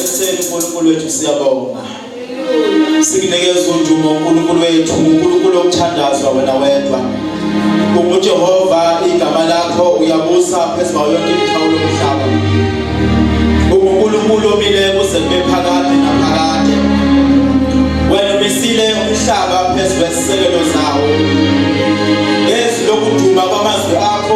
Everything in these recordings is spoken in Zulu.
Eseni uNkulunkulu wethu siyabonga. Sikunikeza udumo uNkulunkulu wethu, uNkulunkulu okuthandazwa wena wedwa. UnguJehova igama lakho uyabusa phezu kwayo yonke imikhawulo yomhlaba. UNkulunkulu omile kuze kube phakade naphakade. Wena umisile umhlaba phezu kwezisekelo zawo. Ngezwi lokuduma kwamazwi akho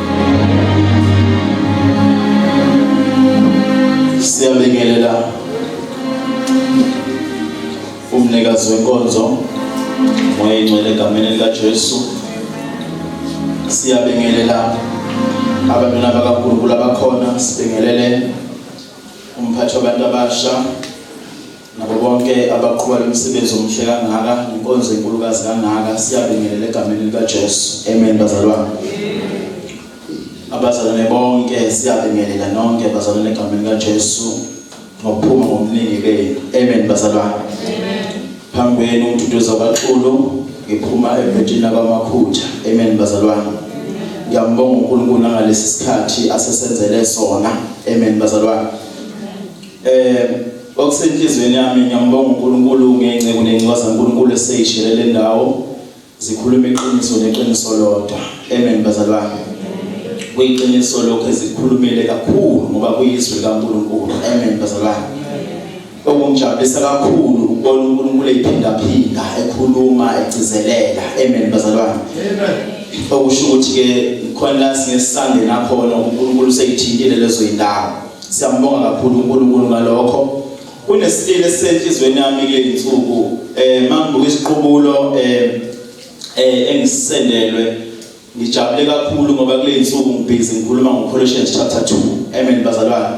Siyabingelela umnikazi wenkonzo moya ingcwele egameni likaJesu. Siyabingelela abantwana bakaNkulunkulu abakhona, sibingelele umphathi wabantu abasha nabo bonke abaqhuba lo msebenzi omuhle kangaka nenkonzo enkulukazi kangaka siyabingelela egameni likaJesu amen bazalwane abazalwane bonke siyabingelela nonke bazalwane egameni likaJesu ngokuphuma ngomningi benu amen bazalwane phambi kwenu umduduzo kaXulu ngiphuma evetini abamakhutha amen bazalwane ngiyambonga uNkulunkulu ngalesi sikhathi asesenzele sona amen bazalwane Eh okusenhlizweni yami ngiyambonga uNkulunkulu ngenceku nencwaza uNkulunkulu eseyishele le ndawo zikhuluma iqiniso neqiniso lodwa. Amen bazalwane. Kuyiqiniso lokho ezikhulumile kakhulu ngoba kuyizwi likaNkulunkulu. Amen bazalwane. Okungijabulisa kakhulu ukubona uNkulunkulu ephinda phinda ekhuluma egcizelela. Amen bazalwane. Amen. okusho ukuthi-ke khona la singesisangena khona unkulunkulu seyithintile lezo yindawo Siyambonga kakhulu uNkulunkulu ngalokho. Kunesitile esisenhlizweni yami kulezi nsuku eh mangibuka isiqubulo eh eh engisendelwe ngijabule kakhulu ngoba kulezi nsuku ngibhizi ngikhuluma ngoColossians chapter 2. Amen bazalwane.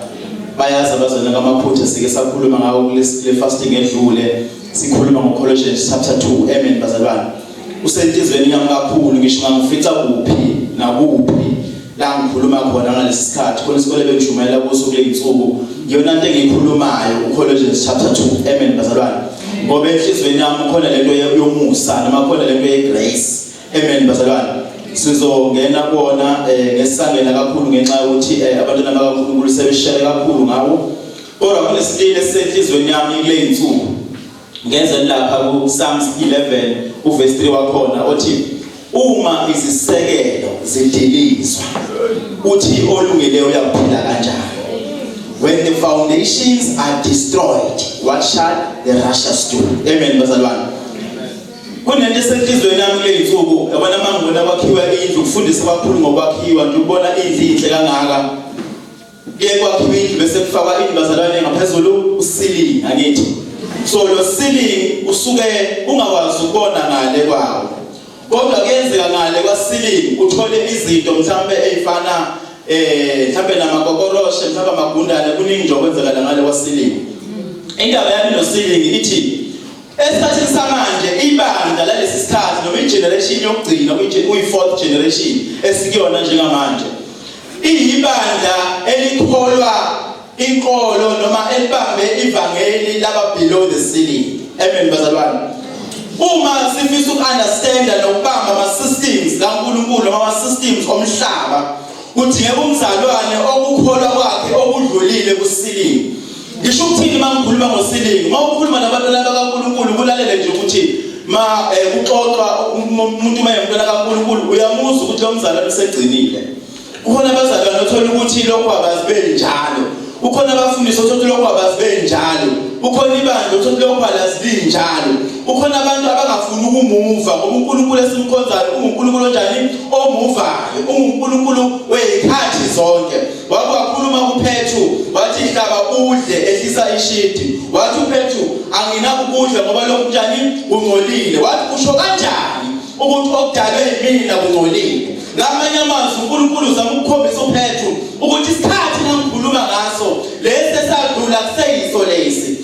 Bayazi abazalwane kamaphutha sike sakhuluma ngawo kule fasting edlule sikhuluma ngoColossians chapter 2. Amen bazalwane. usenhlizweni yami kakhulu ngisho ngangifica kuphi nakuphi la ngikhuluma khona ngalesi sikhathi khona isikole bengishumayela kuso kule yinsuku yona into engiyikhulumayo uColossians chapter 2 amen bazalwane ngoba enhlizweni yami khona lento yomusa noma khona lento yegrace amen bazalwane sizongena kona eh, ngesangena kakhulu ngenxa yokuthi eh, abantwana bakaNkulunkulu sebeshele kakhulu ngawo kodwa kunesitile senhlizweni yami kule yinsuku Ngeze lapha kuPsalms 11 uverse 3 wakhona othi uma izisekelo zidilizwa uthi olungile uyaphila kanjani when the foundations are destroyed what shall the righteous do amen bazalwane kunento esenhlizweni yami kule nsuku yabona mangibona kwakhiwa indlu kufundisa abakhulu ngokwakhiwa nje ukubona indlu inhle kangaka Kuye kwakhiwa indlu bese kufakwa indlu bazalwane ngaphezulu usilingi angithi. So lo silingi usuke ungakwazi ukubona ngale kwawo. Kodwa kuyenzeka ngale kwasilingi uthole izinto mhlambe ezifana eh mhlambe namakokoroshe mhlambe amagundane kuningi nje okwenzeka ngale kwasilingi. Indaba yami nosilingi ithi Esikhathini samanje ibandla lalesi sikhathi noma igeneration yokugcina kuyi-fourth generation esikuyona njengamanje iyibandla elikholwa inkolo noma elibambe ivangeli laba below the ceiling amen bazalwane uma sifisa uku-understanda nokubamba ama-systems kankulunkulu noma ama-systems omhlaba kudingeka umzalwane okukholwa kwakhe okudlulile kusilile Ngisho ukuthini uma ngikhuluma ngosilingi? Uma ukhuluma nabantwana bakaNkulunkulu kulalele nje ukuthi ma eh, kuxoxwa umuntu uma yemntwana kaNkulunkulu uyamuzwa ukuthi lo mzalwane usegcinile. Kukhona abazalwane othola ukuthi lokho abazibeli njalo. Kukhona abafundisi othola ukuthi lokho abazibeli njalo. Kukhona ibandla othola ukuthi lokho alazibili njalo. Kukhona abantu abangafuni ukumuva ngoba uNkulunkulu esimkhonzayo unguNkulunkulu onjani? Omuvayo. Ungunkulunkulu wezikhathi zonke. Wathi wakhuluma kuPhethu wathi hlaba udle ehlisa ishidi. Wathi uPhethu anginakukudla ngoba lokhu njani kungcolile. Wathi kusho kanjani ukuthi okudalwe yimina kungcolile. Ngamanye amazwi uNkulunkulu uzama ukukhombisa uPhethu ukuthi isikhathi nangikhuluma ngaso lesi esadlula kuseyiso lesi.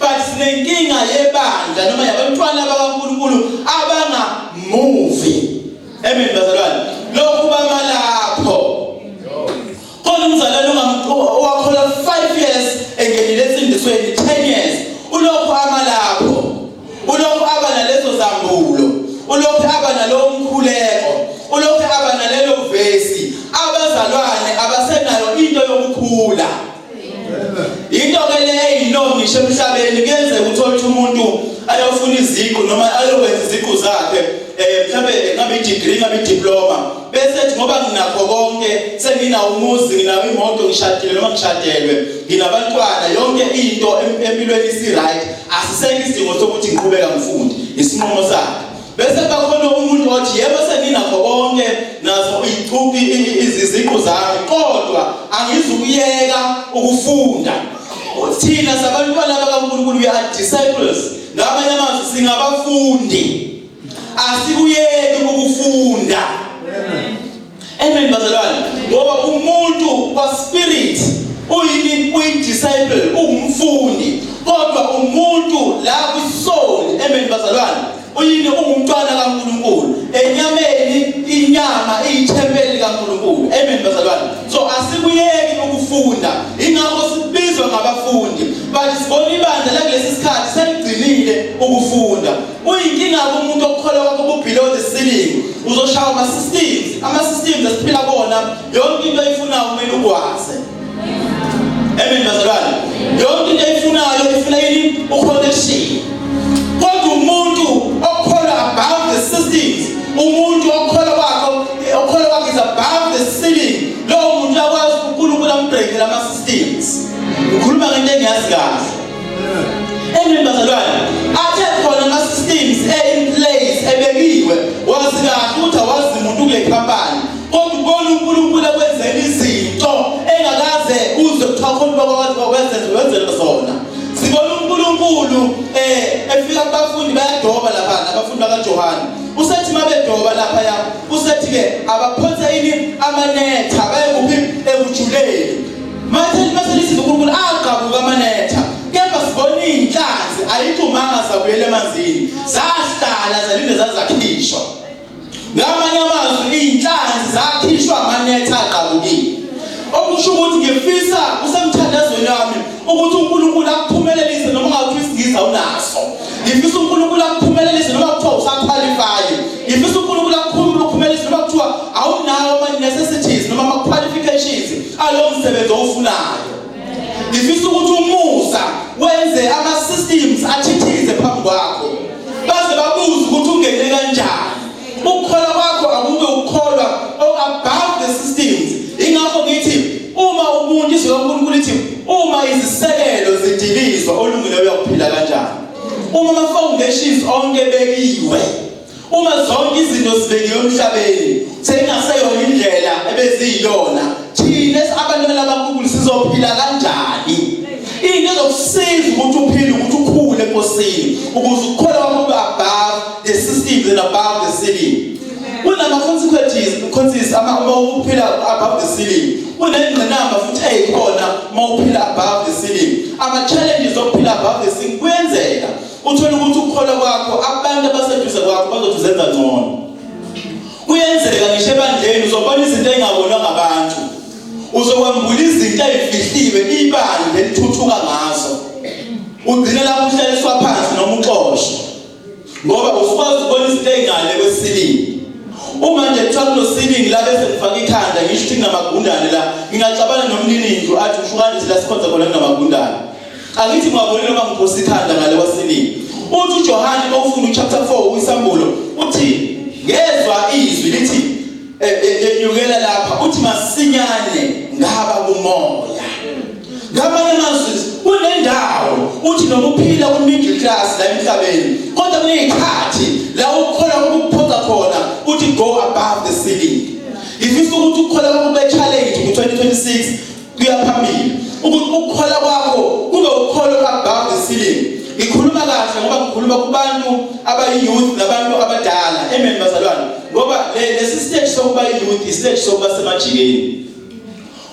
but sinenkinga yebandla noma yabantwana bakaNkulunkulu abanga move amen bazalwane lokhu bamalapho khona umzalwane owakhola 5 years engenile esindisweni 10 years ulokhu amalapho ulokhu aba nalezo zambulo ulokhu aba nalowo mkhuleko ulokhu aba nalelo vesi abazalwane abasenayo into yokukhula into ke le eyiloo ngisho emhlabeni kuyenzeka ukuthi othi umuntu ayofuna iziqu noma ayokwenza iziqu zakhe um mhlawumbe ngabe i-degree ngabe i-diploma bese ethi ngoba nginakho konke senginawo umuzi nginawo imoto ngishadile noma ngishadelwe nginabantwana yonke into empilweni isi-right asisekho isidingo sokuthi ngiqhubeka ngifunde isinqumo sakhe Bese kuba khona umuntu othi yebo senginakho konke nazo izicubi iziziqu zami kodwa angizukuyeka ukufunda. Thina sabantwana bakaNkulunkulu we are disciples ngamanye amazwi singabafundi asikuyeki ukufunda. Amen. Amen bazalwane ngoba umuntu kwa spirit uyini uyi disciple ungumfundi kodwa umuntu la ku soul amen bazalwane uyini ungumntwana kaNkuluNkulu enyameni inyama iyithempeli kaNkuluNkulu amen bazalwane so asikuyeki ukufunda ingakho sibizwa ngabafundi but sibona ibandla lakulesi sikhathi seligcinile ukufunda Kuyinkinga kumuntu okukholwa kwakho kubelow the ceiling. Uzoshawa ama systems, ama systems esiphila kona yonke into oyifunayo kumele ukwazi. Amen bazalwane. Yonke into oyifunayo ifuna yini uconnection. Kodwa umuntu okukholwa above the systems, umuntu okukholwa kwakho okukholwa kwakhe is above the ceiling. Lowo muntu uyakwazi uNkulunkulu ambreakele ama systems. Ukhuluma ngento engiyazi kahle. Amen bazalwane. Athe khona ama systems e in place ebekiwe wazi kahle ukuthi awazi umuntu kule company. Kodwa ubona uNkulunkulu ekwenzela izinto engakaze uzwe kuthiwa khona bakwazi bakwenzenza wenzelwa zona. Sibona uNkulunkulu eh efika kubafundi bayadoba lapha abafundi bakaJohane. Usethi mabedoba lapha ya usethi ke abaphonse ini amanetha bayekuphi ekujuleni. Manje mase lisiza uNkulunkulu agqabuka amanetha kepha sibona iy'nhlanzi ayiphumanga zabuyela emanzini zahlala zalinde zazakhishwa ngamanye amazwi iy'nhlanzi zakhishwa amanetha agqabukile okusho ukuthi ngifisa usemthandazweni wami ukuthi uNkulunkulu akuphumelelise noma ungawufisi ngiza unaso ngifisa uNkulunkulu akuphumelelise noma kuthiwa usaqualify ngifisa uNkulunkulu akuphumelelise noma kuthiwa awunawo ama necessities noma ama qualifications alowo msebenzi owufunayo ngifisa ukuthi umusa wenze ama systems athithize phambi kwakho baze babuze ukuthi ungene kanjani Ukukholwa kwakho akube ukukholwa oh, above the systems. Ingakho ngithi uma umuntu izwi loNkulunkulu lithi uma izisekelo zidilizwa olungile uyakuphila kanjani? Uma ama foundations onke bekiwe uma zonke izinto zibekiwe emhlabeni sekungaseyona indlela ebeziyiyona thina abantwana baNkulunkulu sizophila kanjani? Into ezokusiza ukuthi uphile ukuthi ukhule enkosini ukuze ukukholwa kwakho kube above the systems and above the ceiling kunama consequences consequences ama uma uphila above the ceiling kunengqinamba futhi eyikhona uma uphila above the ceiling ama challenges okuphila above the ceiling kuyenzeka uthola ukuthi ukukhola kwakho abantu abaseduze kwakho bazothi uzenza ngcono kuyenzeka ngisho ebandleni uzobona izinto engabonwa ngabantu uzokwambula izinto ezifihliwe ibandla elithuthuka ngazo ugcine lapho uhlaliswa phansi noma uxoshwe ngoba usukwazi ukubona izinto ey'ngale kwesilingi uma nje kuthiwa kunosilingi la bese ngifake ikhanda ngisho ukuthi nginamagundane la ngingaxabana nomnini ndlu athi usho kanje la sikhonza khona kunamagundane angithi ngwabonile uma ngiphosa ikhanda ngale kwasiningi uthi ujohane mawufunda uchapter 4 uyisambulo uthi ngezwa izwi lithi enyukela lapha uthi masinyane ngaba kumoya ngamanye amazwi kunendawo uthi noma uphila ku middle class la emhlabeni kodwa kunezikhathi la ukhola ukuphoqa khona uthi go above the ceiling ngifisa ukuthi ukhola ukube challenge ku 2026 kuya phambili ukuthi ukukhola kwakho kube ukholo above the ceiling ngikhuluma kahle ngoba ngikhuluma kubantu abayiyouth nabantu abadala amen bazalwane ngoba lesi stage sokuba yiyouth istage sokuba semajikeni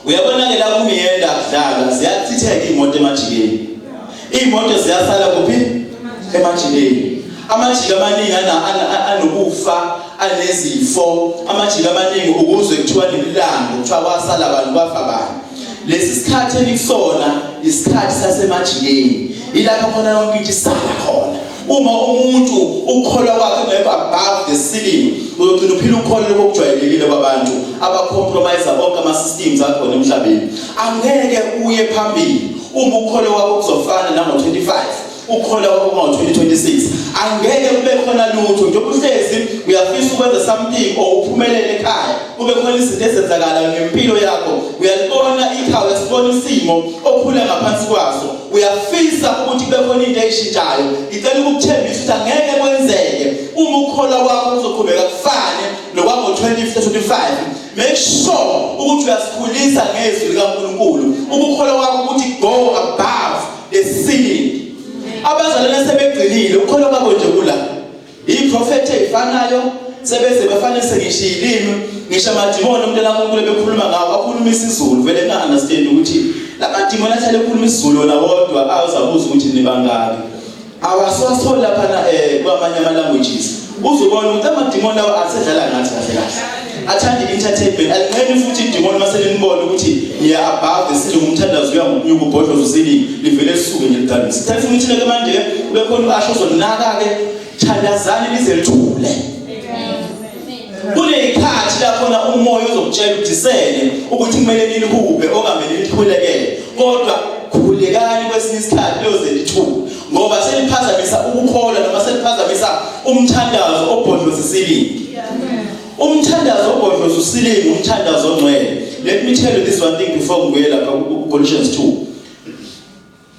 uyabona-ke la kumiyenda kudlalwa ziyachitheka iy'moto emajikeni Iy'moto ziyasala kuphi? Emajikeni. Amajiki amaningi anokufa anezifo amajiki amaningi ukuzwe kuthiwa nemilando kuthiwa kwasala abantu kwafa bani lesi sikhathi enisona isikhathi sasemajikeni ilapho khona yonke into isala khona Uma umuntu ukukholwa kwakhe kungekho above the ceiling, uyogcina uphila ukholo lokujwayelekile kwabantu abacompromise bonke ama-systems akhona emhlabeni. Angeke uye phambili uma ukholo wakho kuzofana nango-25 ukhona kwakungo-2026 angeke kube khona lutho njengoba uhlezi uyafisa ukwenza something or uphumelele ekhaya kube khona izinto ezenzakalayo ngempilo yakho uyalibona ikhaya sibona isimo okhula ngaphansi kwaso uyafisa ukuthi kube khona into eyishintshayo ngicela ukukuthembisa ukuthi angeke kwenzeke uma ukholwa kwakho kuzoqhubeka kufane nokwango-2025 make sure ukuthi uyasikhulisa ngezwi likankulunkulu ukukholwa kwakho ukuthi go above the ceiling abazalwane sebegcinile ukukholwa kwabo nje kula Iprofethe ifanayo sebese bafane sengisho ilimi ngisho amadimoni umuntu lakunkulu bekhuluma ngawo akhuluma isiZulu vele na understand ukuthi lamadimoni ahlale ekhuluma isiZulu wona wodwa awuzabuza ukuthi nibangaki awaswasola lapha na eh kwamanye ama languages uzobona ukuthi amadimoni lawa asedlala ngathi kahle kahle athanda i-entertainment alinqeni futhi idimoni uma selinibona ukuthi niya above the city umthandazo uya ngokunyuka ubhodloza usiningi livele lisuke nje lidalise thatha funa ithina ke manje ke ube khona ubasho uzonaka-ke thandazani lize lithule kuney'khathi lakhona umoya uzokutshela udisele ukuthi kumele nilihube okungamele nilikhulekele kodwa khulekani kwesinye isikhathi liyoze lithule ngoba seliphazamisa ukukholwa noma seliphazamisa umthandazo obhodloza isiningi Umthandazo obhodloza usilinga umthandazo ongcwele. Let me tell you this one thing before ngibuye lapha ku Colossians 2.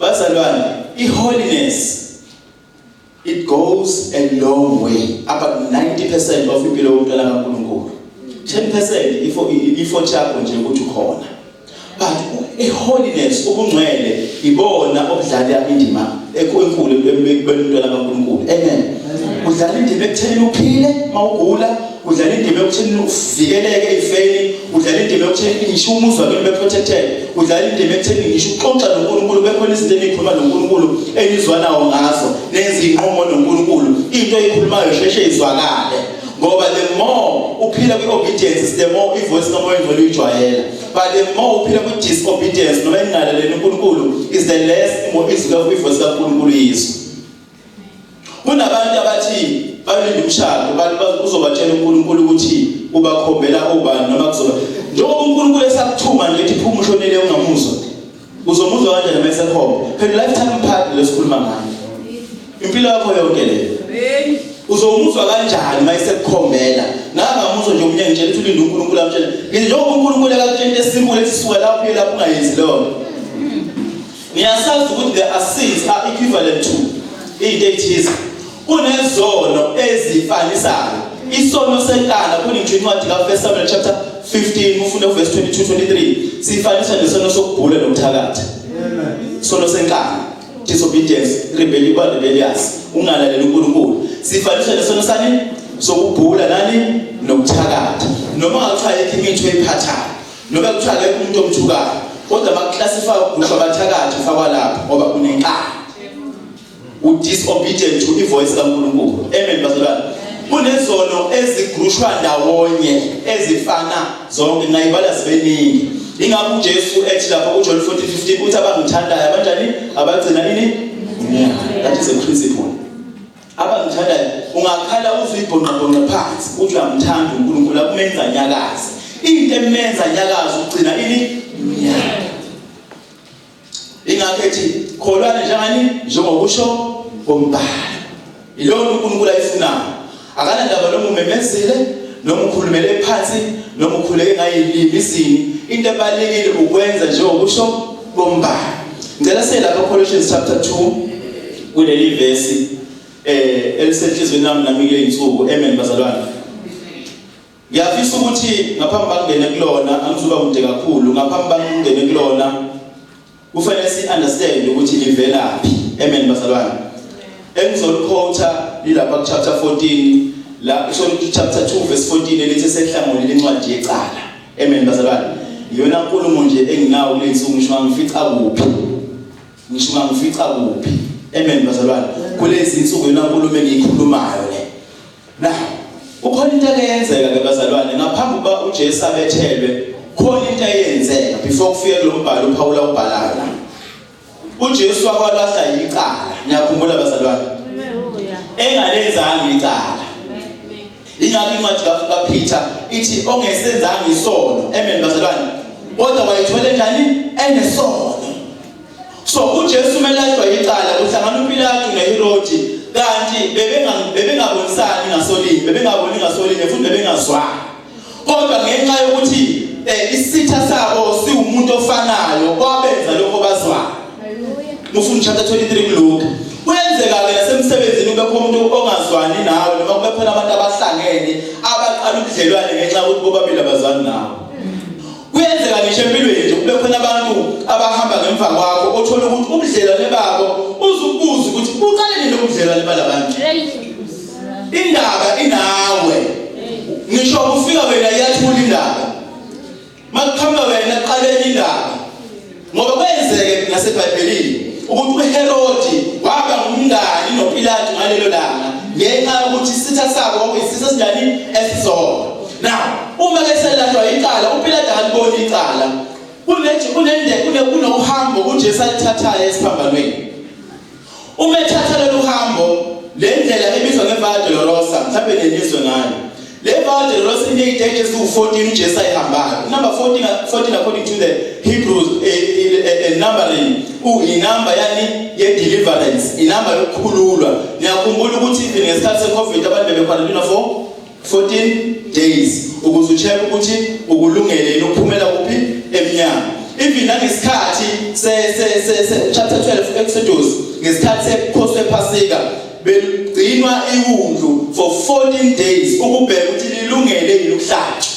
Bazalwane, i holiness it goes a long way about 90% of impilo yomntwana kaNkulunkulu 10% ifo ifo chakho nje ukuthi ukhona but iholiness ubungcwele ibona obudlala indima enkulu ebantwana baNkulunkulu amen udlala indima ekutheni uphile mawugula udlala indima ekutheni uvikeleke ifeni udlala indima ekutheni ngisho umuzwa kimi beprotected udlala indima ekutheni ngisho uxoxa noNkulunkulu bekhona izinto enikhuluma noNkulunkulu enizwanawo ngazo nenza inqomo noNkulunkulu into eyikhulumayo sheshe izwakale ngoba the more uphila kwi-obedience the more ivoice kamoya ngcwele uyijwayela but the more uphila kwi-disobedience noma engingalaleli unkulunkulu is the less izwi ivoice kankulunkulu yizwe kunabantu abathi balinde umshado bathi uzobatshela unkulunkulu ukuthi ubakhombela obani noma kuzoba njengoba unkulunkulu esakuthuma nje ethi phuma ushonele ungamuzwa Uzomuzwa kanjani uma esekhona? Phela lifetime partner lesikhuluma ngayo. Impilo yakho yonke le. Amen. Uzomuzwa kanjani uma esekukhombela? Nangamuzwa nje umnyango ngitshela ukuthi ulinde uNkulunkulu amtshela. Ngithi njengoba uNkulunkulu akakutshela into esimule ethi suka lapho uye lapho ungayenzi leyo nto. Ngiyasazi ukuthi there are sins are equivalent to into ethize. Kunezono ezifanisayo. Isono senkala kuningi incwadi ka1 Samuel chapter 15 ufunde uverse 22 23 sifanisa nesono sokubhula nokuthakatha. Amen. Isono senkala disobedience rebellion kwa rebellious ungalaleli uNkulunkulu. Sifanisa nesono sani sokubhula nani nokuthakatha. Noma kuthiwa yekho imithi oyiphathayo. Noma kuthiwa yekho umuntu omthukayo. Kodwa bakuclassify ukugusha abathakathi ufakwa lapho ngoba unenkala. udisobedient to ivoice kaNkulunkulu amen bazalwane kunezono ezigrushwa ndawonye ezifana zonke ngayibala zibeningi ingabe uJesu ethi lapha kuJohn 14:15 uthi abangithandayo abanjani abagcina nini that is a principle abangithandayo ungakhala uzwe ibhonqabhonqa phansi uthi uyamthanda uNkulunkulu akumenza nyakazi into emenza nyakazi ugcina ini ingakho ethi kholwani njani njengokusho kombhalo yilowo uNkulunkulu ayifunayo akanandaba noma umemezile noma ukhulumele phansi noma ukhuleke ngayilimi izini into ebalekile ukwenza njengokusho kombhalo ngicela siye lapha Colossians chapter 2 kuleli verse eh elisenhlizweni nami nami kule insuku amen bazalwane Ngiyafisa ukuthi ngaphambi bangene kulona angizuba kude kakhulu ngaphambi bangene kulona kufanele si understand ukuthi livelaphi amen bazalwane engizolikhotha lilapha ku chapter 14 la kusho ukuthi chapter 2 verse 14 elithi sehlangola lencwadi yecala amen bazalwane iyona nkulumo nje enginawo kulensuku ngisho ngifica kuphi ngisho ngifica kuphi amen bazalwane kulezi insuku yona nkulumo engiyikhulumayo le Na, kukhona into eyenzeka ke bazalwane ngaphambi kuba uJesu abethelwe khona into eyenzeka before kufike kulombhalo uPawula ubhalayo la. UJesu wakwalahla icala, niyakhumbula bazalwane? Engalenzanga icala. Ingakho incwadi kaPeter ithi ongesenzanga isono, amen bazalwane. Kodwa wayithola njani? Enesono. So uJesu umelashwa icala kuhlangana uPilatu neHerodi kanti bebengabonisani ngasolinye bebengaboni ngasolinye futhi bebengazwani kodwa ngenxa yokuthi eh, isitha sabo siwumuntu ofanayo kwabenza lokho bazwana mufuna chapter 23 kuLuka kuyenzeka ke nasemsebenzini kube khona umuntu ongazwani nawe noma kube khona abantu abahlangene abaqala ubudlelwane ngenxa yokuthi bobabili abazwani nawe kuyenzeka ngisho empilweni nje kube khona abantu abahamba ngemva kwakho othola ukuthi ubudlelwane babo uzubuza ukuthi buqale nini ubudlelwane balabantu indaba inawe ngisho kufika wena iyathula indaba makuqhamuka wena qale indaba Ngoba kwenzeke naseBhayibhelini ukuthi uHerodi waba ngumngani noPilate ngalelo langa ngenxa yokuthi isitha sabo kwakuyisitha esinjani esizona. Now, uma ke selatshwa icala uPilate akaliboni icala kunethi kunende kunohambo uJesu alithathayo esiphambanweni Uma ethatha lolu hambo, le ndlela ebizwa ngeVia Dolorosa, mhlawumbe nenizwe ngayo. Le Via Dolorosa ineziteji eziwu-14 uJesu ayihambayo. Number 14, 14 according to the Hebrews eh, eh, eh, eh, numbering, inamba yani ye-deliverance, inamba yokukhululwa. Niyakhumbula ukuthi even ngesikhathi se-COVID abantu bebekhona for 14 days ukuze ucheck ukuthi ukulungele yini ukuphumela kuphi emnyango even nangesikhathi se se se, se chapter 12 Exodus ngesikhathi sekhosi ephasika begcinwa iwundlu for 14 days ukubheka ukuthi lilungele yini ukuhlatshwa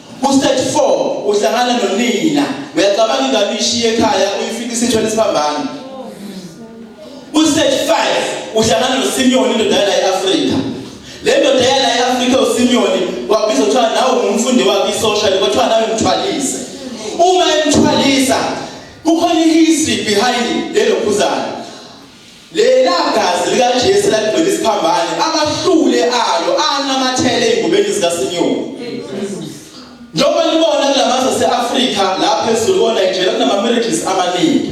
Ku-stage 4 uhlangana nonina uyacabanga ingane uyishiye ekhaya uyifika isithwele isibambane. Ku-stage 5 uhlangana noSimiyoni indoda yala e-Afrika. Le ndoda yala e-Afrika uSimiyoni wabizwa kuthiwa nawe ngumfundi wakhe isosha kwathiwa nawe mthwalise. Uma emthwalisa kukhona i-history behind lelo phuzane. Lela gazi likaJesu laligcwele isiphambane, amahlule alo anamathele ezingubeni zikaSinyoni. Njengoba nibona kulamazwe ase-Afrika lapha ezulu koNigeria kunama-miracles amaningi.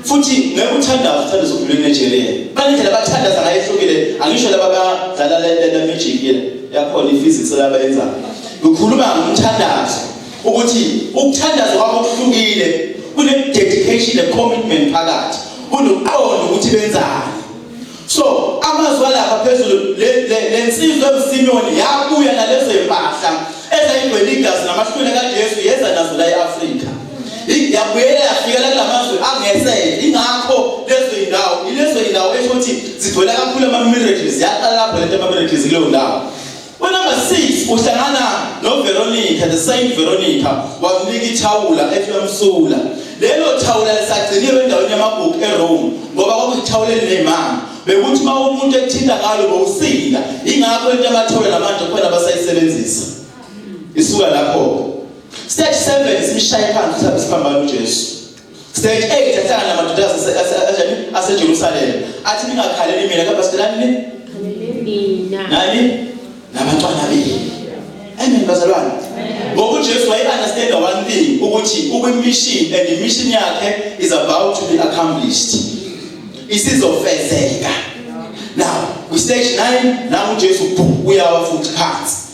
Futhi ngeke uthandaze uthanda zokudlula eNigeria. Banendlela abathandaza ngayo ehlukile, angisho laba abadlala le magic yakhona i-physics labayenzayo. Ngikhuluma ngomthandazo ukuthi ukuthandaza kwabo kuhlukile kune-dedication ne-commitment phakathi kunoqondo ukuthi benzani so amazwi alapha phezulu le nsizwa emsimiyoni yabuya nalezo y'mpahla ezayigcwele igazi namahlwini kajesu yeza nazo la e-afrika yabuyela yafikela kula mazwe angesele ingakho lezo y'ndawo ilezo y'ndawo esho ukuthi zigcwela kakhulu ama-miracles yaqala lapho lento ama-miracles kuleyo ndawo Kwi-number 6 uhlangana noVeronica, the same Veronica, wamnika ithawula ethi uyamsula. Lelo thawula lisagciniwe endaweni yamagugu eRome ngoba kwakuyithawula elinemanga. Bekuthi uma umuntu ethinta ngalo bowusinda, ingakho into abathawula namanje kukhona abasayisebenzisa. Isuka lapho-ke. Stage 7 simshaye phansi uSiphambano uJesu. Stage 8 ahlala namadoda aseJani aseJerusalem. Athi ningakhaleli mina kodwa sidelani ni? Mina. Nani? Nabantwana benu. Amen bazalwane. Ngoba uJesu waye understand one thing ukuthi ukwi mission and the mission yakhe is about to be accomplished. Isizofezeka. Now, kwi stage 9 nawo uJesu uyawa futhi phansi.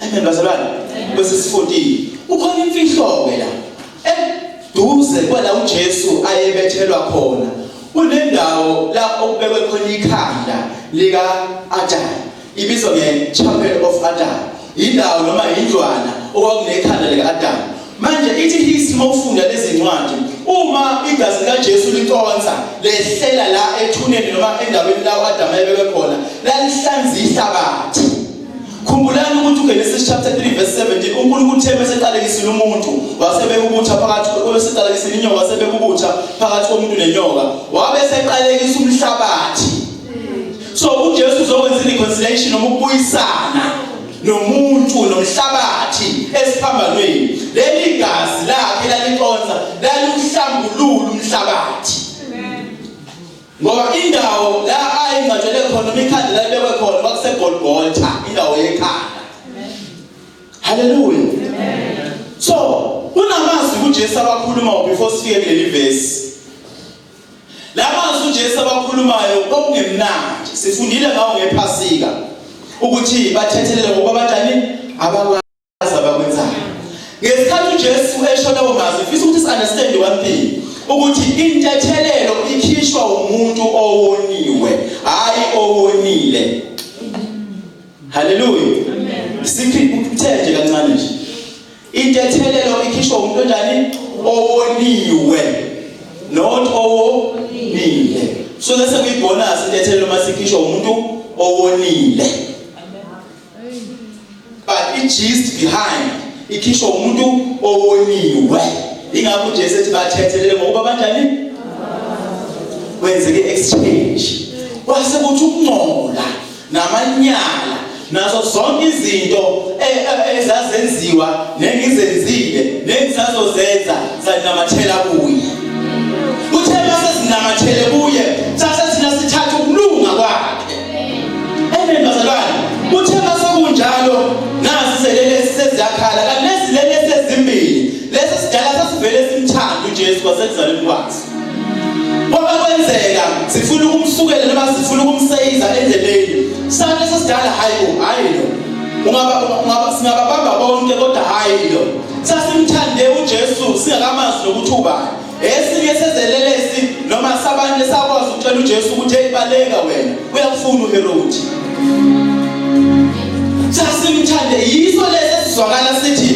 Amen bazalwane. Verse 14. Ukhona imfihlo ke la. Eduze kwala uJesu ayebethelwa khona. Kunendawo la okubekwe khona ikhanda lika Adam. Ibizwa nge Chapel of Adam. Indawo noma indlwana okwakunekhanda lika Adam. Manje ithi hisi mawufunda lezi ncwadi uma igazi likaJesu liconsa lehlela la ethuneni noma endaweni la uAdam ayebekwe khona lalihlanza ihlabathi Khumbulani ukuthi uGenesis chapter 3 verse 17 uNkulunkulu uthe bese eqalekisile umuntu wasebekubutha phakathi kwese eqalekisile inyoka wasebekubutha phakathi komuntu nenyoka wabe seqalekisa umhlabathi so uJesu uzokwenza reconciliation noma ukubuyisana nomuntu nomhlabathi esiphambanweni leli gazi lakhe laliconsa laliuhlambulula umhlabathi Ngoba indawo la ayingcwatshele khona noma ikhanda la libekwe khona kwakuseGolgotha, indawo yekhanda. Haleluya. So, kunamazwi uJesu abakhulumayo before sifike kuleli verse. Lamazwi uJesu abakhulumayo okungemnandi. Sifundile ngawo ngephasika ukuthi bathethelele ngokuba banjani abakwa abakwenzayo ngesikhathi uJesu esho lawo mazwi ngifisa ukuthi si-understand one thing ukuthi intethelelo ikhishwa umuntu owoniwe hayi owonile haleluya sikuthenje kancane nje intethelelo ikhishwa umuntu onjani owoniwe not owonile so lese kuyibonus intethelelo masikhishwa umuntu owonile but i-gist behind ikhishwa umuntu owoniwe ingakho nje sethi bathethelele ngokuba banjani kwenzeke exchange kwase kuthi ukungcola namanyala nazo zonke izinto e, e, ezazenziwa nengizenzile nengisazozenza sanamathela kuye uthe mase sinamathele kuye sase Amen bazalwane. Kuthe masekunjalo nazi selele seziyakhala kanti nezilele sezimbili. Leso sidala sasivele simthanda uJesu kwasekuzalweni kwakhe. Kwaba kwenzeka sifuna ukumsukela noma sifuna ukumseyiza endleleni. Sane sesidala hayi bo hayi lo. Ungaba ungaba singababamba bonke kodwa hayi lo. Sasimthande uJesu singakamazi nokuthi ubani. esinye sezelelesi noma sabanye sakwazi ukutshela uJesu ukuthi eyibaleka wena uyakufuna uHerodi sasimthande yiso lesi esizwakala sithi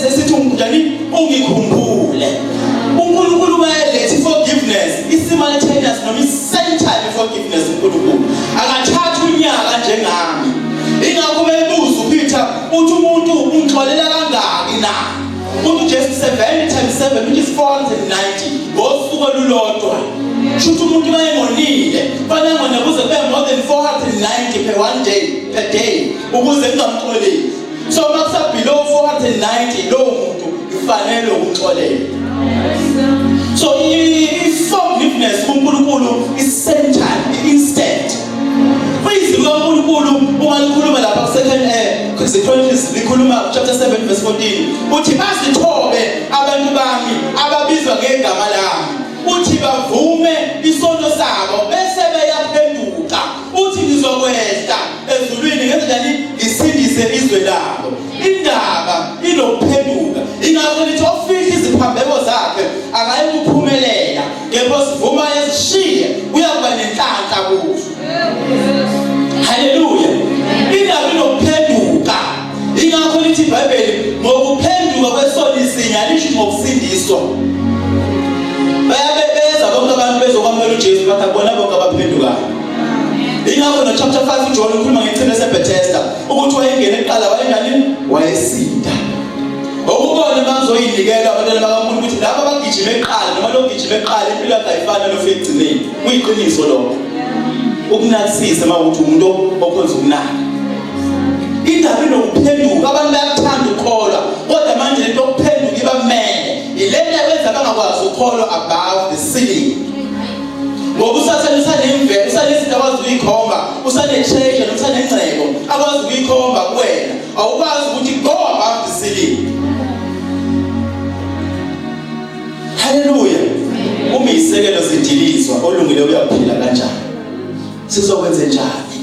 esithi umgudani ungikhumbule uNkulunkulu mayelethi forgiveness isimultaneous noma isame time forgiveness uNkulunkulu akathatha unyaka njengami ingakho bebuza uPeter uthi umuntu ungixolela kangaki na Uthi uJesu 70 times 7 which is 490 ngosuku olulodwa. Shuthi umuntu mayengonile, fanele ngone kuze kube more than 490 per one day, per day ukuze kungamxoleli. So makusa below 490 lo muntu kufanele ukuxolela. So i forgiveness kuNkulunkulu is centered Izwi likaNkulunkulu uma likhuluma lapha ku-second air zichronicles likhuluma chapter 7 verse 14 uthi bazithobe abantu bami ababizwa ngegama lami uthi bavume isono sabo bese beyaphenduka uthi ngizokwehla ezulwini ngenzani ngisindise izwe labo indaba inokuphenduka ingakho lithi ofihla iziphambeko zakhe akayikuphumelela kepha osivuma esishiye uyakuba nenhlanhla kuso haleluya indaba inokuphenduka ingakho lithi ibhayibheli ngokuphenduka kwesoni sinye alishi ngokusindiswa bayabebeza bonke abantu bezokwamukela ujesu bathi akubona bonke abaphendukayo ingakho nochapter 5 ujohn ukhuluma ngechilo esebethesta ukuthi wayengene kuqala wayenganini wayesinda Ngokubona uma ngizoyinikela abantwana bakamuntu ukuthi laba bagijime eqala noma logijime eqala impilo yakhe ayifani nalofika ekugcineni. Kuyiqiniso lokho. Ukunakisisa uma ukuthi umuntu okhonza ukunaka. Indaba inokuphenduka abantu bayakuthanda ukukholwa kodwa manje lento yokuphenduka iba mele. Ilento eyenza bangakwazi ukukholwa above the ceiling. Ngoba usathane usanemvelo, usanezinto akwazi ukuyikhomba, usanetreasure, usanengcebo akwazi ukuyikhomba kuwena. awukwazi ukuthi go above the ceiling haleluya uma isekelo sidilizwa olungile uyaphila kanjani sizokwenze njani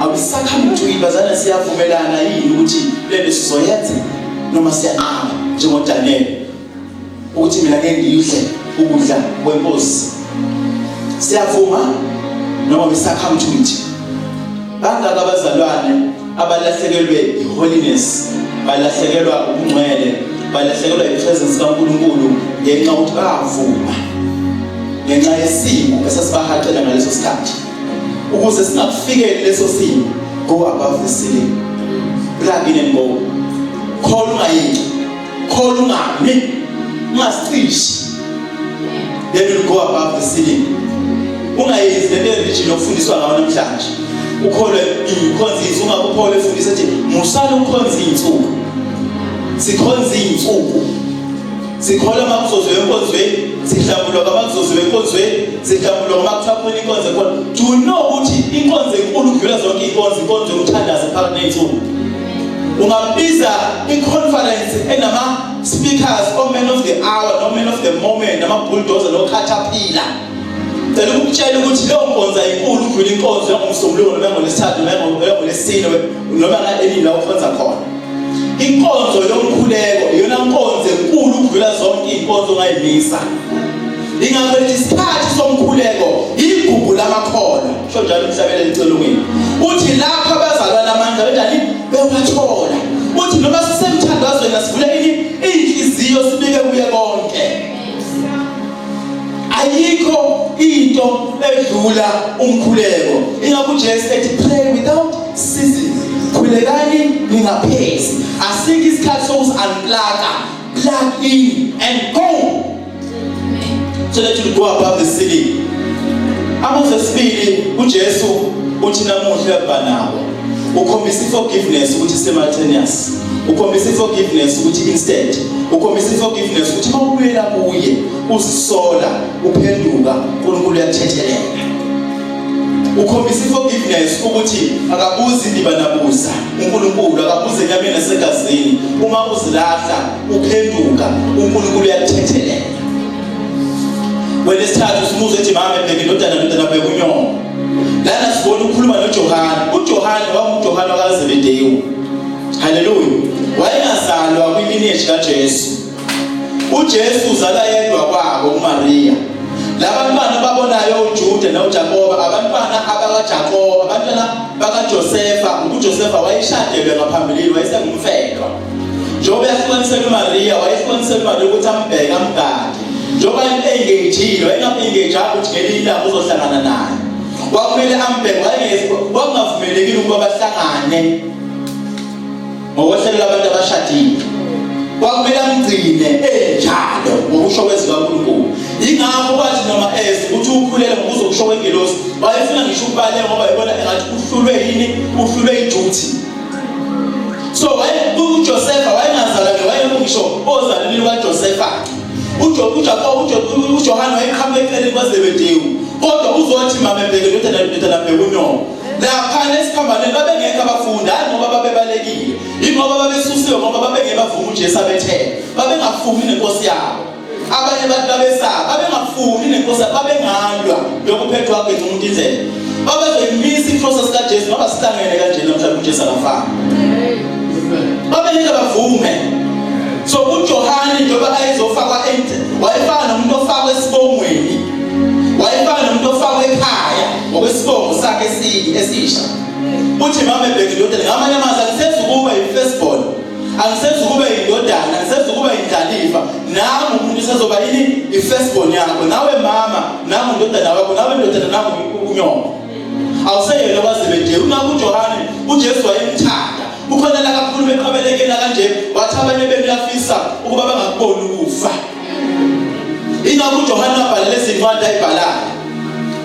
awusakhamba ukuthi uyibazana siyavumelana yini ukuthi lento sizoyenza noma siyanqaba njengoDaniel ukuthi mina ngeke ngiyidle ukudla kwenkosi siyavuma noma we succumb to it bangaka abazalwane abalahlekelwe yiholiness balahlekelwa ubungcwele balahlekelwa yipresence kaNkulunkulu ngenxa yokuthi bavuma ngenxa yesimo esasibahaqela ngaleso sikhathi ukuze singakufikeli leso simo go above the ceiling plug in and go khona ungayinto khona ungami ungasicisha then you go above the ceiling ungayenzi le religion ofundiswa ngayo namhlanje ukholwe ikhonza insuku akukholwe efundisa ukuthi musala ukhonza insuku sikhonza insuku sikhola makuzozo enkonzweni sihlambulwa ngamakuzozo enkonzweni sihlambulwa ngamakuthapula inkonzo ekhona do you know ukuthi inkonzo enkulu kudlula zonke inkonzo inkonzo yokuthandaza phakathi nensuku ungabiza iconference enama-speakers oman of the hour noman of the moment namabulldozer nokhathapila cela ukutshela ukuthi leyo nkonzo ayinkulu ukudlula inkonzo yangomsombuluko noma yangolesithathu noma yangolesine noma ngaenini la ukhonza khona inkonzo yomkhuleko iyona nkonzo enkulu ukudlula zonke iy'nkonzo ongayimisa ingakho isikhathi somkhuleko igugu lamakhono Kusho njalo umhlabeni elicelukile. Uthi lapho abazalwana amandla benjani bewathola. Uthi noma sisemthandazweni asivule ini inhliziyo sibike kuye konke. Ayikho into edlula umkhuleko. Ingakho uJesu ethi pray without ceasing. Khulekani ningaphezi. Asikho isikhathi sokuzi unplug. Plug in and go. so that you go above the ceiling amazwi esibili uJesu uthi namuhla banawo ukhombisa iforgiveness ukuthi simultaneous ukhombisa iforgiveness ukuthi instant ukhombisa iforgiveness ukuthi mawubuyela kuye uzisola uphenduka uNkulunkulu uyathethelela ukhombisa iforgiveness ukuthi akabuzi ndiba nabuza uNkulunkulu akabuze enyameni nasegazini uma uzilahla Uphenduka uNkulunkulu uyakuthethelela. Wena isithathu simuze ethi mama ebheke indodana ndodana bheka unyoko. Lana sibona ukhuluma noJohane. UJohane wakuJohane wakaZebedewu. Haleluya. Wayengazalwa kwimineshi kaJesu. UJesu uzala yedwa kwabo uMariya. Labantwana babonayo uJuda noJakoba, abantwana abakaJakoba, abantwana bakaJosefa, uJosefa wayeshadelwe ngaphambilini wayesengumfebe. njengoba yahlukanisela uMaria wayehlukanisela uMaria ukuthi ambheke amgade njengoba engagile wayengaengage apho ukuthi ngelinye ilanga uzohlangana naye kwakumele ambheke wayengavumelekile ukuba bahlangane ngokwehlelo labantu abashadile kwakumele amgcine enjalo ngokusho kwezwi kaNkulunkulu ingakho kwathi noma eze ukuthi ukhulele ngokuzo kusho kwengelosi wayefuna ngisho ukubale ngoba yibona engathi uhlulwe yini uhlulwe iduty so uJosefa wayengazalwane wayengisho ozalweni lukaJosefa uJohane wayeqhamuka eceleni kwaZebedewu kodwa uzothi mamebheke ndodana ndodana bheke unyoko laphana esiphambaneni babengekho abafundi hayi ngoba babebalekile ingoba babesusiwe ngoba babengebavuma uJesu abethele babengafumi nenkosi yabo abanye abantu babesaba babengafuni nenkosi babengalwa lokuphethwa kwakhe umuntu indlela babezoyimisa inhloso sikaJesu ngoba sihlangene kanje namhlanje uJesu akafani babengeke bavume so uJohane njengoba ayezofakwa ente wayefana nomuntu ofakwa esibongweni wayefana nomuntu ofakwa ekhaya ngokwesibongo sakhe esisha uthi mama ebhekile ukuthi ngamanye amazwi akusezukube yi-firstborn angisezukuba indodana angisezukuba indlalifa nami umuntu usezoba yini i-first born yakho nawe mama nami undodana wakho nawe ndodana nami unyoko awuseyena wazebedee ungakho ujohane ujesu wayemthanda ukhonela kakhulu beqabelekela kanje wathi abanye bemlafisa ukuba bangakuboni ukufa Ingakho uJohane wabhalela izincwadi ayibhalayo.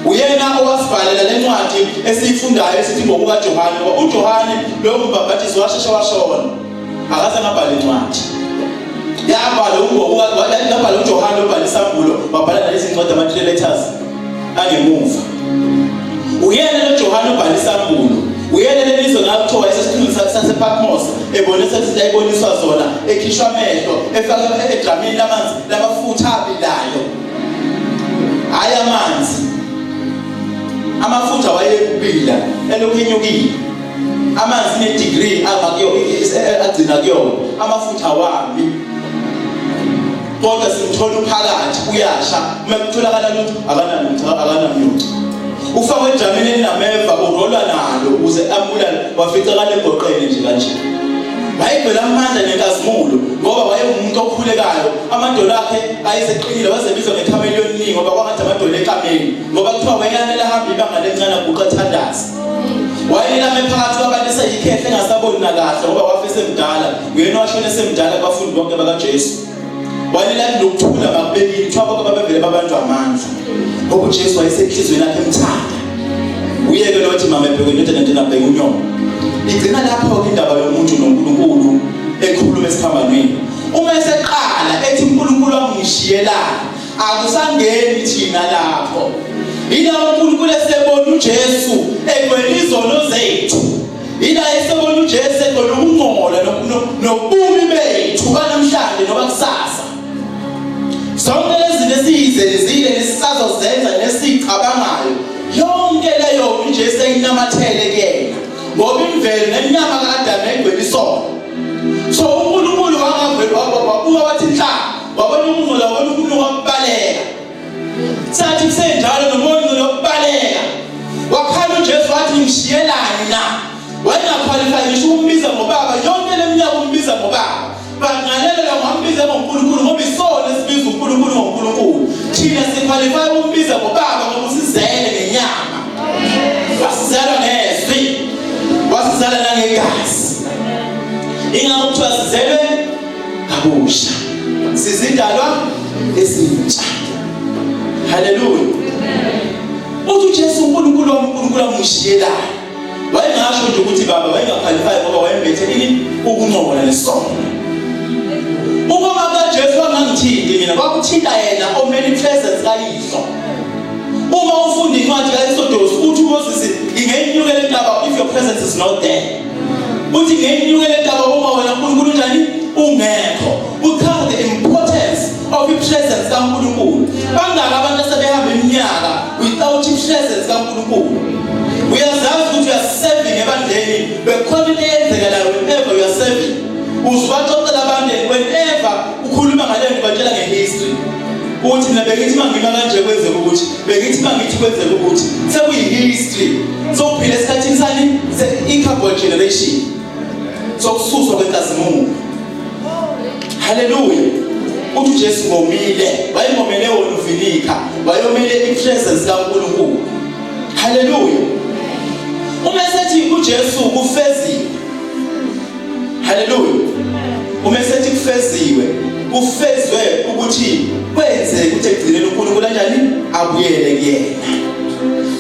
Uyena owasibhalela le ncwadi esiyifundayo esithi ngokuka Johane. Ngoba uJohane lowo mbhabhathiso washeshe washona. Akaze ngabhala incwadi. Yabhala uNgokuka, yabhala uJohane obhala isambulo, wabhala nalezi ncwadi ama-3 letters. angemuva uyena noJohane ubhala isambulo uyena lelizwe ngakuthiwa isesikhulu sasePatmos ebonisa izinto ayiboniswa zona ekhishwa amehlo efaka edramini lamanzi lamafutha abilayo hayi amanzi amafutha wayekubila elokhu enyukile amanzi ne-degree agcina kuyona amafutha wami kodwa simthola uphakathi uyasha uma kutholakala ukuthi akanamntu akanamntu ufakwe ejamini elinameva urolwa nalo ukuze ambulale wafica kanegoqene nje kanje wayegcwele amandla nenkazimulo ngoba wayewumuntu okhulekayo amadolo akhe ayeseqinile wazebizwa ngekameli yomningi ngoba kwangathi amadolo ekameli ngoba kuthiwa wayeyanele ahambe ibanga lencane aguqa athandaze wayelame phakathi kwabantu eseyikhehle engasaboni nakahle ngoba wafesemdala nguyena washona esemdala abafundi bonke bakajesu walelani nokuthula bakubekile kuthiwa bonke babevele babantu amandla ngoba ujesu wayesenhliziyweni yakhe emthanda uyeke lothi mama ebheke indoda nento nabheke unyoko igcina lapho-ke indaba yomuntu nonkulunkulu ekhuluma esiphambanweni uma eseqala ethi unkulunkulu angishiyelani akusangeni thina lapho yila unkulunkulu esebona ujesu egwela izono zethu ila esebona uJesu egona ukungcola nokumi bethu banamhlanje noba kusasa zonke lezi zinto esizenzile nesisazozenza nesicabangayo yonke leyo uJesu ayinamathele kuyena ngoba imvelo nenyama kaAdam egcwele isono so uNkulunkulu wangavela wabuka wathi inhlanga wabona umuntu wabona umuntu wambaleka Sathi kusenjalo nomonyo lokubaleka. Wakhala uJesu wathi ngishiyelani na? Wayengakhwalifaya ngisho ukumbiza ngobaba, yonke leminyaka umbiza ngobaba. Bangalelela ngambiza ngoNkulunkulu ngoba isona esibiza uNkulunkulu ngoNkulunkulu. Thina sikhwalifaya ukumbiza ngobaba ngoba usizele ngenyama. Wasizela ngezwi. Wasizela nangegazi. Ingakho kuthiwa sizelwe kabusha sizindalwa ezintsha haleluya uthi uJesu uNkulunkulu wami uNkulunkulu amshiyelayo wayengasho nje ukuthi baba wayengakhalifayi ngoba wayembethe ini ukuncokola nesono ukoma kaJesu angangithinti mina kwakuthinta yena omele ipresence kayihlo uma ufunda incwadi kaExodus uthi uMoses ingeyinyukela intaba if your presence is not there uthi ngenyuke le ndaba uma wena uNkulunkulu njani ungekho uchaza the importance of i-presence kaNkulunkulu bangaka abantu asebehamba iminyaka without i-presence kaNkulunkulu uyazazi ukuthi uyaseving ebandleni bekhona into eyenzeka nayo whenever you are serving uzibaxoxela abantu whenever ukhuluma ngale nto batshela nge-history ukuthi mina bengithi uma ngima kanje kwenzeka ukuthi bengithi uma ngithi kwenzeka ukuthi sekuyi-history sokuphila esikhathini sani i-carbon generation sokususwa kwenkazimulo haleluya uthi ujesu ngomile wayengomele wona uvinika wayomele i-presence kankulunkulu haleluya uma esethi ujesu kufezile haleluya uma esethi kufeziwe kufezwe ukuthi kwenzeke ukuthi egcinele uNkulunkulu kanjani abuyele kuyena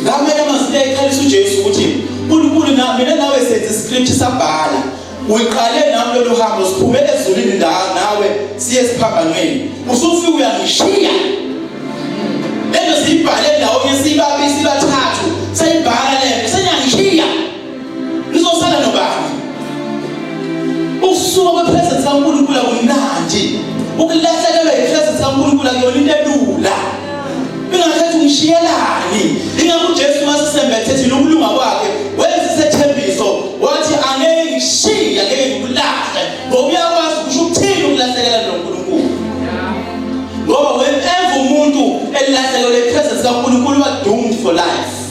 ngamanye amazwi ayikhalisa uJesu ukuthi uNkulunkulu na mina nawe senze iscript sabhala uyiqale nami lolu hambo siphume ezulwini nawe siye siphambanweni usufika uyangishiya lento siyibhale ndawonye sibabi sibathathu sayibhala lento senyangishiya Lizosala nobani? Ukusuka kwepresence kaNkulunkulu akumnandi. Ukulahlekelwa yipresence kaNkulunkulu akuyona into elula. Ingakhethi ungishiyelani. Ingakho uJesu masisembethe thina ukulunga kwakhe wenza isethembiso wathi angeke ngishiye angeke ngikulahle ngoba uyakwazi ukusho ukuthini ukulahlekelwa noNkulunkulu. Ngoba whenever umuntu elahlekelwa ipresence kaNkulunkulu wadoomed for life.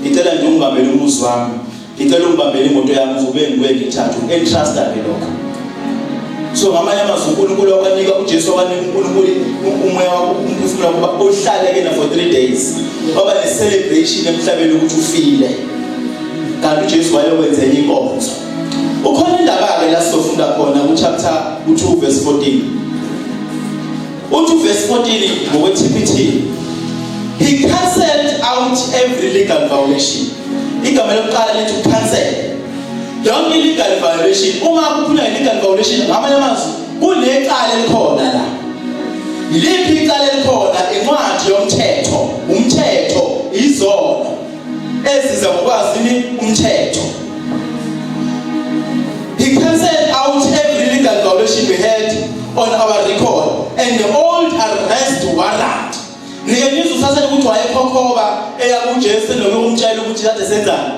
ngicela nje ungibambele umuzi wami ngicela ungibambele imoto yami uzobe ngibuye ngithathu entrust ake lokho so ngamanye amazwi uNkulunkulu wabanika uJesu wabanika uNkulunkulu umoya wakho umphefumulo wakho uhlale kena for 3 days waba ne celebration emhlabeni ukuthi ufile kanti uJesu wayokwenza enye inkonzo ukhona indaba ke la sofunda khona ku chapter 2 verse 14 Uthi verse 14 ngokwe TPT. He cancelled out every legal violation. Igama lokuqala lithi cancel. Yonke legal violation uma kuphula legal violation ngamanye amazwi kunecala elikhona la. Liphi icala elikhona incwadi yomthetho, umthetho izona eziza ngokwazi umthetho he cancelled out every legal violation we had on our record and the old arrest warrant nike nizwe uthathele ukuthi wayekhokhoba eya kujesu noma umtshela ukuthi kade senzani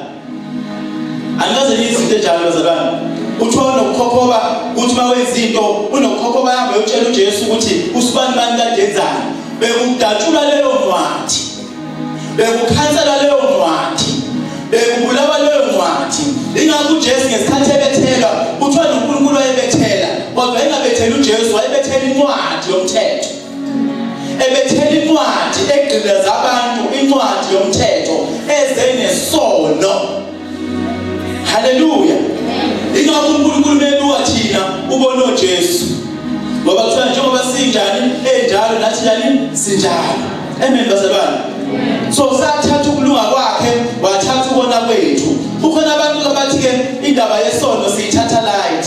angikaze niyizinto enjalo bazalwane kuthiwa unokukhokhoba ukuthi uma wenza into unokukhokhoba yambe uyotshela ujesu ukuthi usibani bani kade enzani bekudatshula leyo ncwadi bekukhansela leyo ncwadi bekubulawa leyo ncwadi ingakho uJesu ngesikhathi ebethelwa kuthiwa noNkulunkulu wayebethela kodwa engabethela uJesu wayebethela incwadi yomthetho ebethela incwadi egqilaza abantu incwadi yomthetho ezenesono Haleluya. Ingakho uNkulunkulu mebuka thina ubona uJesu. Ngoba kuthiwa njengoba sinjani enjalo nathi njani sinjalo. Amen bazalwane. So sathatha ukulunga kwakhe wathatha ukona kwethu. Kukhona abantu abathi ke indaba yesono siyithatha light.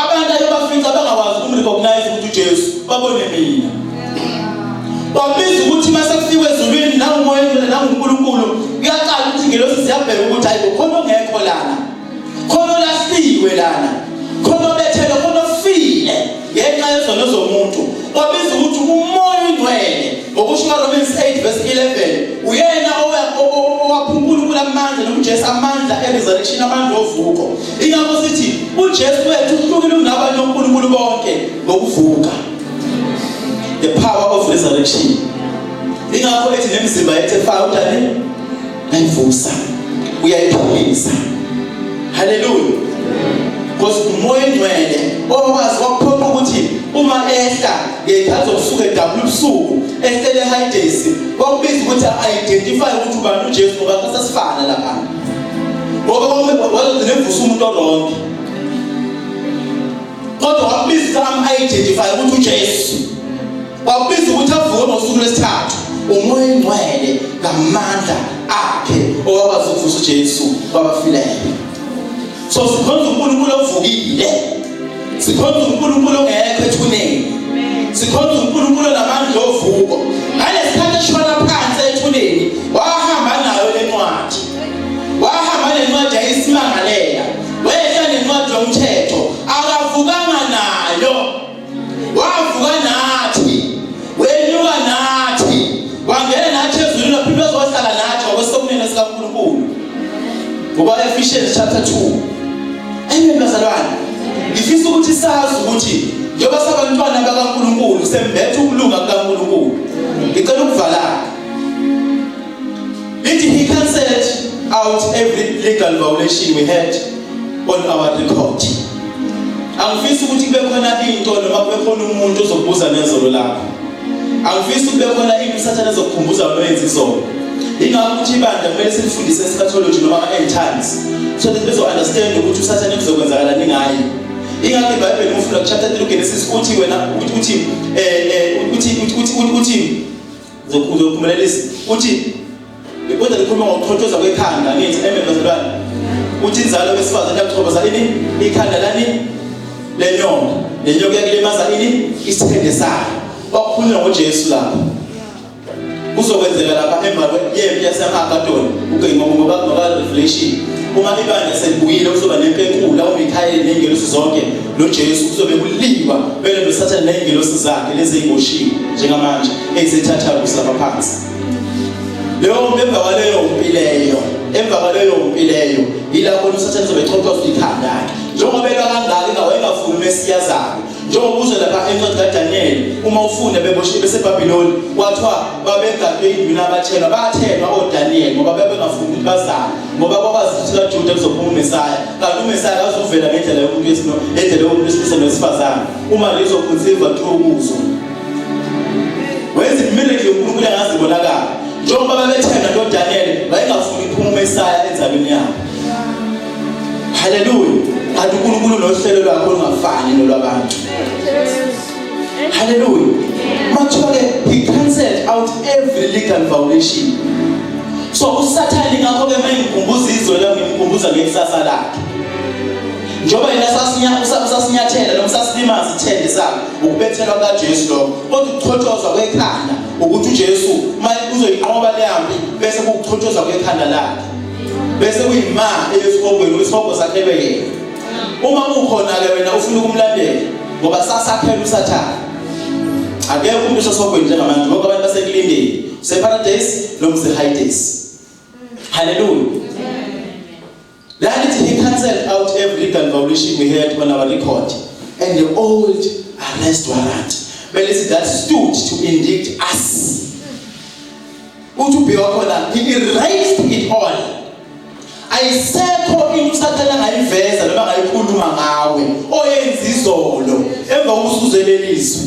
Abantu ayebafica bangakwazi ukumrecognize ukuthi uJesu babone mina. Babiza ukuthi mase kufikwe ezulwini nangumoya endlela nanguNkulunkulu kuyaqala ukuthi ngelosi siyabheka ukuthi hayi khona ongekho lana. Khona olahliwe lana. Khona obethelwe khona ofile ngenxa yezono zomuntu. Babiza ukuthi umoya ingcwele ngokusho kaRomans 8 verse 11 uyena owaphunkulunkulu amandla nomJesu amandla eresurrection amandla ovuko Ingakho sithi uJesu wethu uhlukile kunabanye oNkulunkulu bonke ngokuvuka. The power of resurrection. Ingakho ethi nemizimba yethu efaka utani nayivusa uyayiphilisa. Hallelujah. Because umoya engcwele okwazi wakuphoqa ukuthi uma ehla ngeyikhathi zokusuka edabula ubusuku ehlele high days wakubiza ukuthi a-identify ukuthi ubani uJesu ngoba sasifana lapha ngoba wazogcina evusa umuntu orongi kodwa wakubiza am-identify ukuthi ujesu wakubiza ukuthi avuke ngosuku lwesithathu umoya engcwele ngamandla akhe owakwazi ukuvusa ujesu wabafileyo so sikhonza uNkulunkulu ovukile sikhonza uNkulunkulu ongekho ethuneni sikhonza uNkulunkulu namandla ovuko ngalesikhathi eshona phansi ethuneni wahamba nayo lencwadi wahamba nencwadi yayisimangalela wehla nencwadi yomthetho Ephesians chapter 2 amen bazalwane ngifisa ukuthi sazi ukuthi njengoba sabantwana bakaNkuluNkulu sembethe ukulunga kukaNkuluNkulu ngicela ukuvala Lithi he cancelled out every legal violation we had on our record. Angifisi ukuthi kube khona into noma kube khona umuntu ozokubuza nezolo lakho. Angifisi kube khona into usathane ezokukhumbuza wena oyenza izolo. Ingakho ukuthi ibandla kumele silifundise eschatology noma ama-end times so that bezo-understand ukuthi usathane kuzokwenzakalani ngaye. Ingakho iBhayibheli umfunda kuchapter 3 uGenesis uthi wena uthi uthi eh, eh, uthi uthi uthi uzophumelelisa uthi ngikwenza ngikhuluma ngokuthothoza kwekhanda ngithi amen bazalwane uthi inzalo besifazane yakuchoboza ini ikhanda lani lenyoka lenyoka yakulimaza ini isithende sayo wakukhuluma ngoJesu lapho kuzokwenzeka lapha emva kwempi yaseMagadoni uGeyiwa ngoba ngoba revelation uma ibandla selibuyile kuzoba nempi enkulu la uMikhayeli nengelosi zonke noJesu kuzobe kuliwa bele noSathane nezingelosi zakhe lezi eziboshiwe njengamanje ezisethatha kusaba phansi leyo emva kwaleyo mpi leyo emva kwaleyo mpi leyo yilapho uSathane uzobe echotshwa ikhanda lakhe njengoba eka kangaka ingawe engafuni uMesiya zakhe njengoba uzwe lapha encwadi kaDaniyeli uma ufunda beboshiwe beseBabiloni kwathiwa babegadwe induna abathenwa bathenwa oDaniyeli ngoba bebengafuni ukuthi bazale ngoba kwabazi ukuthi kaJuda kuzophuma uMesiya kanti umesaya akazuvela ngendlela yomuntu wesino ngendlela yomuntu wesilisa nowesifazane uma lizokhunsiva kuthiwa ukuso wenza imilenje yonkulunkulu engazibonakala njengoba babethenga nodaniyeli wayengafuni iphuma umesaya enzalweni yabo haleluya kanti unkulunkulu nohlelo lwakho olungafani nolwabantu Hallelujah. Mathole he cancelled out every legal violation. So usathane ngakho ke mengikhumbuza izwe lami ngimkhumbuza ngekusasa lakhe. Njoba yena sasinyathela sasinyathela noma sasilimaza ithende sakhe ukubethelwa kaJesu lo kodwa ukuchotshozwa kwekhanda ukuthi uJesu manje uzoyinqoba leyambi bese kuchotshozwa kwekhanda lakhe. Bese kuyima eyesihogweni wesihogwe sakhe yena. uma ukhona-ke wena ufuna ukumlandela ngoba sasakhela usathane akekho umuntu usosogweni njengamanje ngoba abantu basekulindeni useparadayisi noma usehidayisi haleluya lalithi he cancelled out every legal violation we had on our record and the old arrest warrant belithi that stood to indict us uthi ubheka khona he erased it all ayisekho into usathane angayiveza noma angayikhuluma ngawe oyenza izolo emva kokusuzelelizwe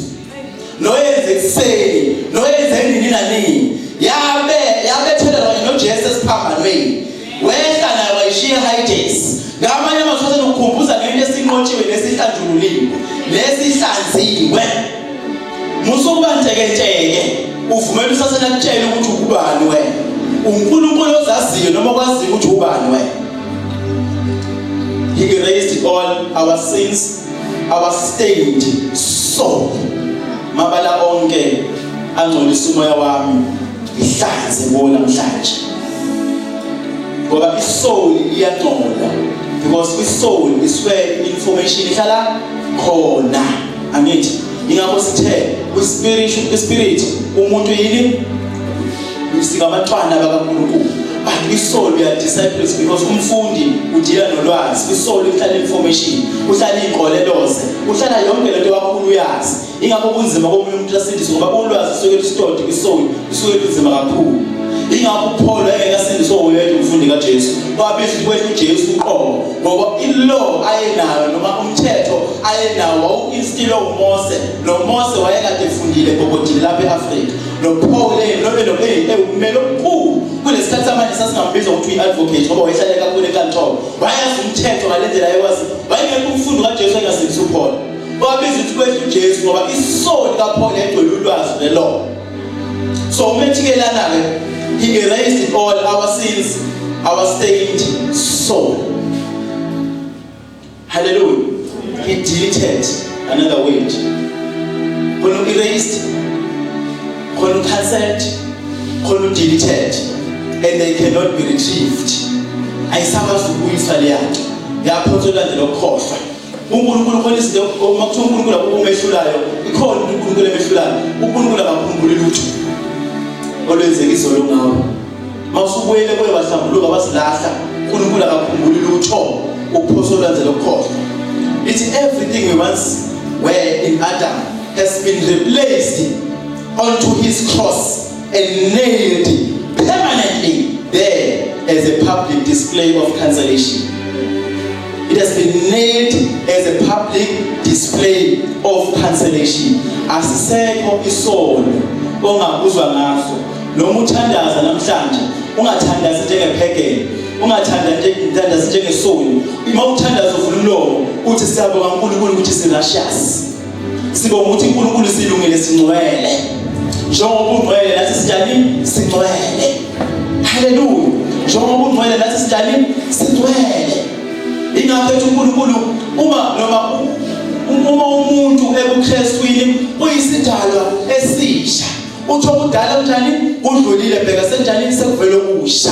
noyenza ekuseni noyenza nini nanini yabe yabethelelwa nojesu esiphambanweni Wehla nayo wayishiya high-tax. Ngamanye amazwi athanda ukukhumbuza ngento esinqotshiwe nesihlanjululiwe nesihlanziwe. Musa ukuba ntekenteke uvumela usathane akutshele ukuthi ukubani wena. UNkulunkulu ozaziyo noma okwaziyo ukuthi ubani wena. He erased all our sins our stained soul mabala onke angcolisa umoya wami ngihlanze kuwo namhlanje ngoba isoul iyangcola because isoul isuke information ihlala khona angithi ingakho sithe kwispirit kwispirit umuntu yini sikamantwana bakaNkulunkulu but isoul uya disciples because umfundi udila nolwazi isoul ihlala information uhlala igoleloze uhlala yonke lento kakhulu uyazi ingakho kunzima komunye umuntu asindiswe ngoba ulwazi suke lusitodi kwisoni kusuke kunzima kakhulu ingakho uPaul engeke asindiswe ngoyedwa umfundi kaJesu wabiza ukuthi uJesu uqobo ngoba ilaw ayenayo noma umthetho ayenawo wawuinstilo uMose noMose wayekade efundile gogodini lapha eAfrika noPaul nobe nobe ewumelo omkhulu kulesikhathi samanje sasingambiza ukuthi uyi-advocate ngoba wayehlale kakhulu enkantolo wayazi umthetho ngalendlela ayekwazi wayengekho umfundi kaJesu engasindisa uPaul Wabiza ukuthi kwehla uJesu ngoba isoni kaPaul yayigcwele ulwazi nelona. So uma ethikelana-ke he erased all our sins, our stained soul. Hallelujah. He deleted another word. Khona u-erased, khona u-cancelled, khona u-deleted and they cannot be retrieved. Ayisakwazi ukubuyisa leyanto. Yaphonswa elandela ukukhohlwa. uNkulunkulu khona izinto uma kuthiwa uNkulunkulu akukho umehlulayo ikhona into uNkulunkulu emehlulayo uNkulunkulu akakhumbuli lutho olwenzeka izolo ngawo mawusubuyele kuye wahlambuluka wasilahla uNkulunkulu akakhumbuli lutho ukuphosa olwenzela ukukhohlwa it's everything we once were in Adam has been replaced onto his cross and nailed it permanently there as a public display of cancellation. It has been nailed as a public display of cancellation. Asisekho isono ongakuzwa ngaso noma uthandaza namhlanje ungathandazi njengephekele ungathandazi njengesoni uma uthandaza uvula umlomo uthi siyabonga uNkulunkulu ukuthi sirashasi Sibonga ukuthi uNkulunkulu silungile singcwele. Njengoba ungcwele nathi sinjani? Singcwele. Haleluya. Njengoba ungcwele nathi sinjani? Singcwele. Ingakho ethi uNkulunkulu uma noma uma umuntu ebuKristwini uyisidalwa esisha. Utho kudala kunjani? Kudlulile bheka senjani sekuvela okusha.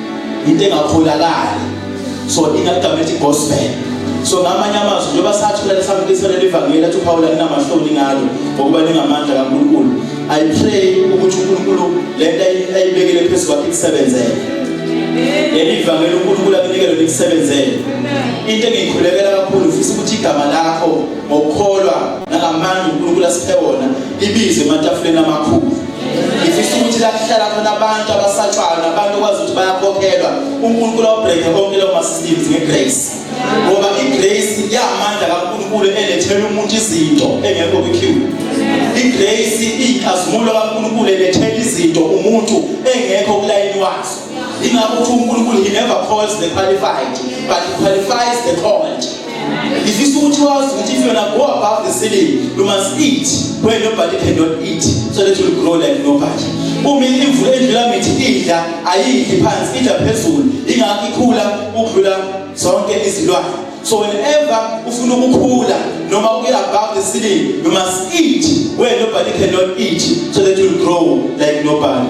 into engakholakali so ingagama ethi gospel so ngamanye amazwi njengoba sathi kulale samukisa leli vangeli athi uphawula linamahloni ngalo ngokuba lingamandla kaNkulunkulu i pray ukuthi uNkulunkulu le nto ayibekele phezu kwakhe ikusebenzele leli vangeli uNkulunkulu akunike lona ikusebenzele into engiyikhulekela kakhulu ufisa ukuthi igama lakho ngokukholwa nangamandla uNkulunkulu asiphe wona libizwe ematafuleni amakhulu ngifisa ukuthi la kuhlala khona abantu abasatshayo nabantu okwazi ukuthi bayakhokhelwa unkulunkulu awubhreke konke leyo ma-systems nge-grace ngoba i-grace iyamandla kankulunkulu elethela umuntu izinto engekho kwi-cube i-grace iyinkazimulo kankulunkulu elethela izinto umuntu engekho kulayini wazo ingakho uthi unkulunkulu he never calls the qualified but he qualifies the called ngifisa ukuthi wazi ukuthi if yona go above the ceiling you must eat where nobody cannot eat so that you grow like nobody uma imvula endlula mithi idla ayidli phansi idla phezulu ingakho ikhula ukudlula zonke izilwane so whenever ufuna ukukhula noma uye above the ceiling you must eat where nobody cannot eat so that you grow like nobody